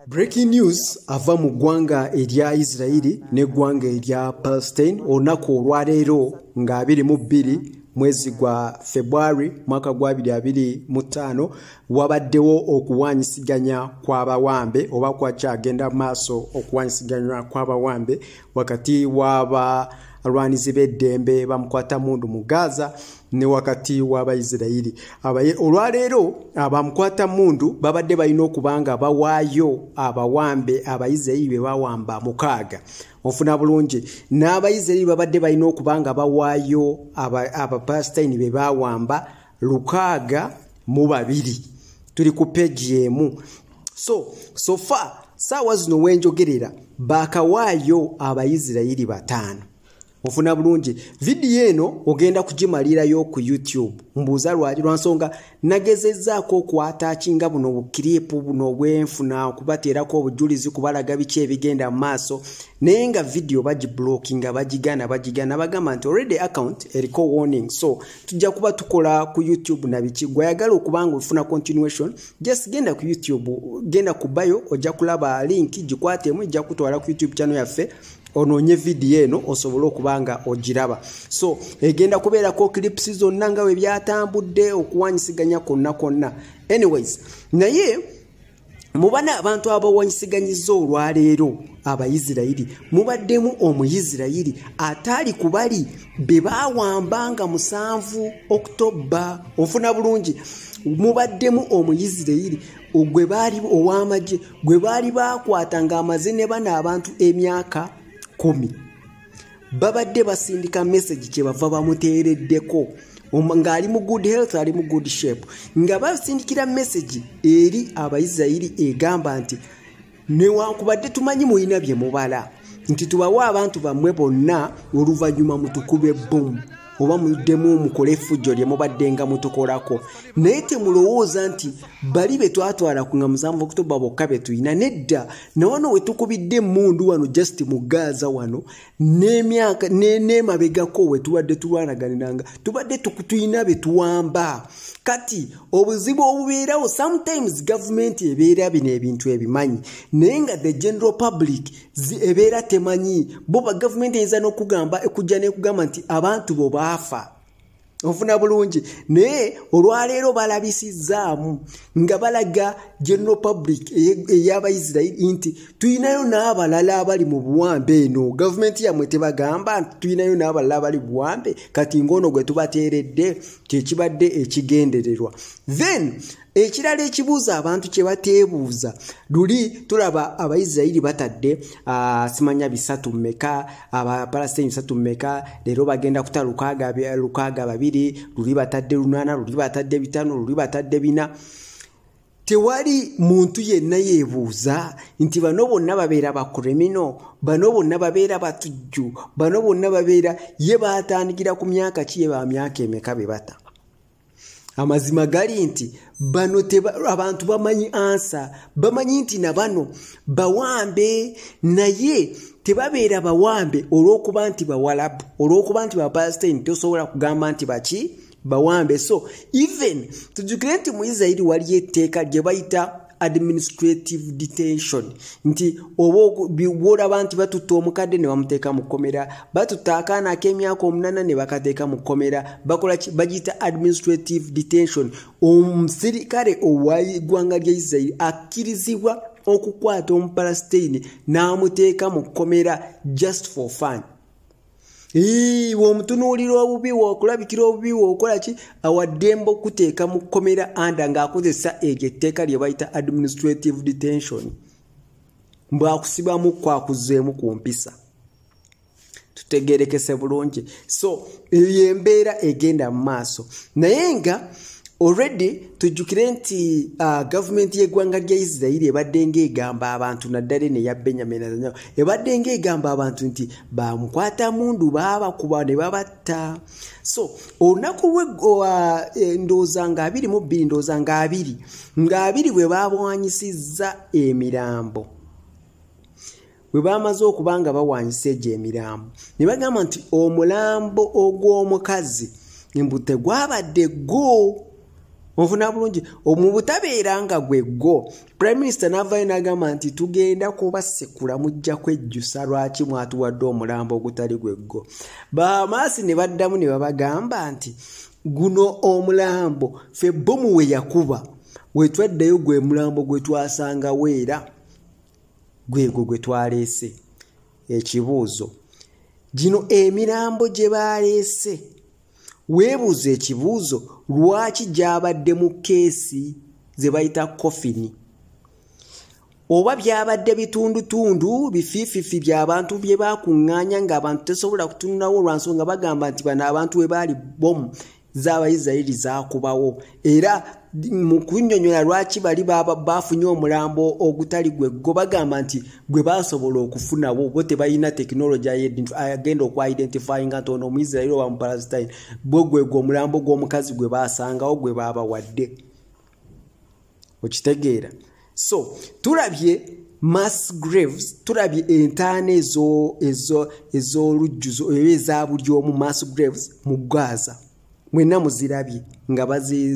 Breaking news ava mu ggwanga erya Isirayiri n'eggwanga erya Palestine olunaku olwaleero nga abiri mu bbiri mwezi gwa February mwaka gwa abiri abiri mu ttaano wabaddewo okuwanyisiganya kw'abawambe oba kwakyagenda maaso okuwanyisiganywa kw'abawambe wakati w'aba alwanizi b'eddembe bamukwata mundu mu gaza ne wakati w'abayisirayiri abaye olwaleero abamukwata mundu babadde balina okuba nga bawaayo abawambe abayisirayiri be bawamba mukaaga ofuna bulungi n'abayisirayiri babadde balina okuba nga bawaayo abapasitayini be bawamba lukaaga mu babiri tuli ku peegi emu so sofa saawa zino wenjogerera bakawaayo abayisirayiri bataano ofuna bulungi vidiyo eno ogenda kugimalirayo ku youtube mbuuza lwaki lwansonga nagezezaako okwata kinga buno bukiripu buno bwenfuna okubateerako obujulizi kubalaga biki ebigenda mu maaso naye nga vidiyo bagiblockinga bagigana bagigana bagamba nti already account eriko warning so tujja kuba tukola ku youtube nabiki gweyagala okubanga ofuna continuation just genda ku youtube genda kubayo ojja kulaba link gikwatemu ejja kutwala ku youtube channel yaffe onoonye vidiyo eno osobole okuba nga ogiraba so egenda kubeerako clips zonna nga bwe byatambudde okuwanyisiganya kwonna kwonna anyways naye mubana abantu abawanyisiganyiza olwaleero abayisirayiri mubaddemu omuyisirayiri ataali ku bali be baawamba nga musanvu okutobba ofuna bulungi mubaddemu omuyisirayiri ogwe baali ow'amagye gwe baali baakwata ng'amaze ne bano abantu emyaka kumi babadde basindika mesagi kye bava bamuteereddeko ng'ali mu good health ali mu good shape nga basindikira mesagi eri abaisirairi egamba nti newankubadde tumanyi mulina bye mubala nti tubawe abantu bammwe bonna oluvannyuma mutukube bbomu oba muddemu mukole effujjo lye mubaddenga mutukolako naye temulowooza nti bali be twatwala ku nga musanvu okutoba bokka be tulina nedda nawano we tukubidde emmundu wano just mu gaaza wano n'emyaka n'emabegako we tubadde tulwanaganiranga tubadde tulina be tuwamba kati obuzibu obubeerawo sometimes gavumenti ebeera bino ebintu ebimanyi naye nga the general public ebeera temanyi bo bagavumenti eyinza n'okugamba ekujja nekugamba nti abantu bo baafa ofuna bulungi naye olwaleero balabisizzaamu nga balaga general public eyabaisirairi nti tulinayo n'abalala abali mu buwambe eno gavumenti yamwe tebagamba nti tulinayo n'abalala abali buwambe kati ngaono gwe tubateeredde kyekibadde ekigendererwa then ekirala ekibuuzo abantu kye bateebuuza luli tulaba abaisirairi batadde ah, simanya bisatu mumeka abapalastini bisatu mumeka leero bagenda kuta lukaaga babiri luli batadde lunaana luli batadde bitano luli batadde bina tewali muntu yenna yeebuuza nti bano bonna babeera bakuremino bano bonna babeera batujju bano bonna babeera ye baatandikira ku myaka ki ye ba myaka emeka be bata amazima gali nti bano abantu bamanyi ansa bamanyi nti na bano bawambe naye tebabeera bawambe olw'okuba nti bawalabu olw'okuba nti bapasitaini tosobola kugamba nti baki bawambe so even tujukire nti mu isirairi waliyo etteeka lye bayita administrative detention nti oba bwolaba nti batutta omukadde ne bamuteeka mu kkomera batutta akaana ak'emyaka omunana ne bakateeka mu kkomera bakola ki bagiyita administrative detention omusirikale owaiggwanga lya isirairi akkirizibwa okukwata omupalasiteyini n'amuteeka mu kkomera just for fun womutunuulira obubi wokulabikira obubi wokola ki awaddembe okuteeka mu kkomera anda ng'akozesa eryo etteeka lye bayita administrative detention mbwakusibamu kwakuzeemu ku mpisa tutegerekese bulungi so eyo yembeera egenda mu maaso naye nga already tujjukire nti uh, gavumenti y'eggwanga lya isirairi ebaddenga egamba abantu naddala eno eya benyamin ebadde ng'egamba abantu nti bamukwata mundu baabakuba ne babatta so olunaku lwegowa e, ndooza nga abiri mu bbiri ndooza nga abiri nga abiri bwe baabwanyisizza emirambo bwe baamaze okuba nga bawanyisa egyo emirambo ne bagamba nti omulambo ogw'omukazi mbu tegwabadde gwo onfuna bulungi mu butabeera nga gwe gwo prime minister n'avaayo n'agamba nti tugenda kubasekula mujja kwejjusa lwaki mwatuwadde omulambo ogutali gweggo bamaasi ne baddamu ne babagamba nti guno omulambo fe bomu we yakuba wetwaddeyo gwe mulambo gwe twasangawo era gwegwo gwe twaleese ekibuuzo gino emirambo gye baleese weebuuza ekibuuzo lwaki gyabadde mu keesi ze bayita kofini oba byabadde bitundutundu bifiififi byabantu bye bakuŋŋaanya ng'abantu tesobola kutunulawo olwansonga bagamba nti bano abantu we baali bomu zaabayisirayiri zaakubawo era mu kunyonyola lwaki bali bafunye omulambo ogutali gwe go bagamba nti gwe basobola okufunawo bo tebalina tekinologi agenda okuidentifyinga nti ono omuisirairi oba mupalastine bwe gwegwe omulambo gw'omukazi gwe basangawo gwe baabawadde okitegeera so tulabye mass graves tulabye entaana ez'olujjuzo oba eza buli omu mass graves mu gaza mwena muzirabye nga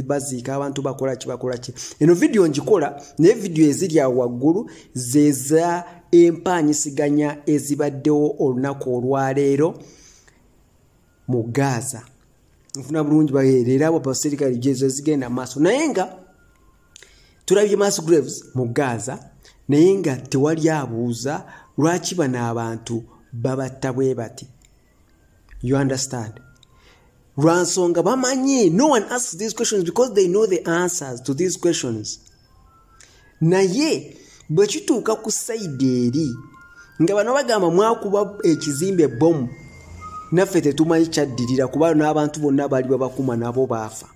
baziika abantu bakola kibakola ki eno vidiyo ngikola naye vidiyo eziri awo waggulu zeza empaanyisiganya ezibaddewo olunaku olwaleero mu gaaza nfuna bulungi baerera abo baserikale jezo zigenda maaso naye nga tulabye mass graves mu gaaza naye nga tewali abuuza lwaki bano abantu babatta bwe bati you understand lwansonga bamanyi no one asks these questions because they know the answers to these questions naye bwe kituuka ku sayidi eri nga bano bagamba mwakuba ekizimbe bomu naffe tetumanyi kyaddirira kuba n'abantu bonna baali babakuma nabo baafa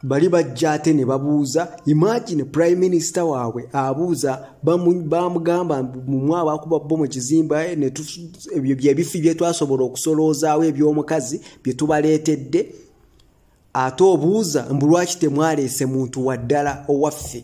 bali bajja ate ne babuuza imagine prime minister waabwe abuuza bamugamba mumu abakuba bo mu kizimba eh, ebyo byebifi byetwasobola okusoloozaawo eby'omukazi bye tubaleetedde ate obuuza mbu lwaki temwaleese muntu waddala owaffe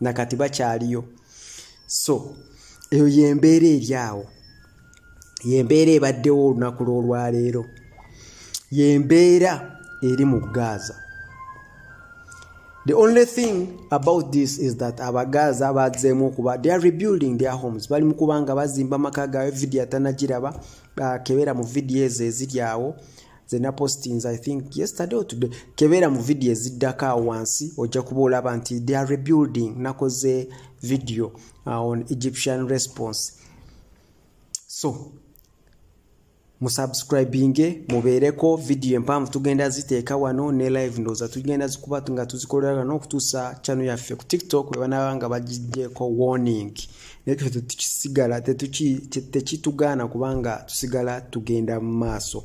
nakati bakyaliyo so eyo yembeera eri awo yembeera ebaddewo olunaku lwolwaleero yembeera eri mu gaaza the only thing about this is that abagaaza bazeemu okuba they are rebuilding their homes bali mu kubanga bazimba amaka gaabwe vidiyo atanagiraba kebera mu vidiyo ezo eziri awo nze napostinze i think yesterday or today kebeera mu vidiyo eziddako awo wansi ojja kuba olaba nti they are rebuilding nakoze vidiyo uh, on egyptian response so musubscribinge mubeereko vidiyo empanvu tugenda ziteeka wano ne live ndooza tugenda zikuba nga tuzikolera wano okutuusa channel yaffe ku tiktok webanaba nga bagigyeko warning naye fe tetukisigala tekitugaana kubanga tusigala tugenda mu maaso